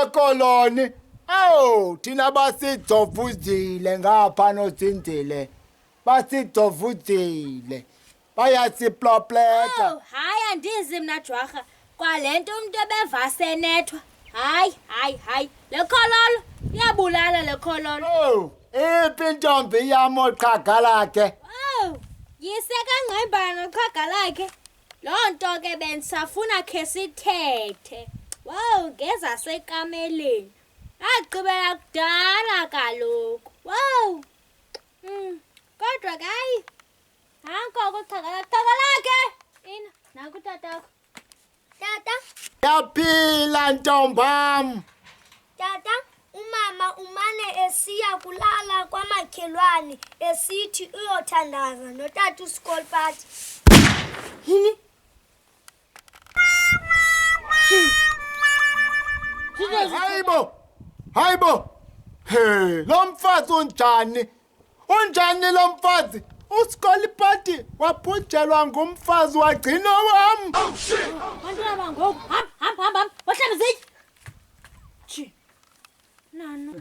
ekoloni awu thina basidovuzile ngapha nozinzile basidovuzile bayasiplopleta Oh, hayi andizi mna jwarha kwale nto umntu ebevasenethwa hayi hayi hayi le khololo iyabulala le khololo owu iphi intombi yam oqhaga lakhe owu yise kangqembana noqhaga lakhe Loo nto ke bendisafuna khe sithethe. Wow, ngezasekameleni. Agqibela kudala kaloku. Wow. Mm, kodwa ke hayi. Nanko kuxhakala xhakala ke. Ina, nanku tatakho. Tata. Yaphila ntombam. Tata. Umama umane esiya kulala kwamakhelwane esithi uyothandaza notata uskol party. Yini? Hayibo! Hayibo! He, lo mfazi onjani unjani lo mfazi usikolipati wabhujelwa ngumfazi wagcina wam Bantwana bangoku, hamba hamba hamba, wahlala zitye. Chi. Nana.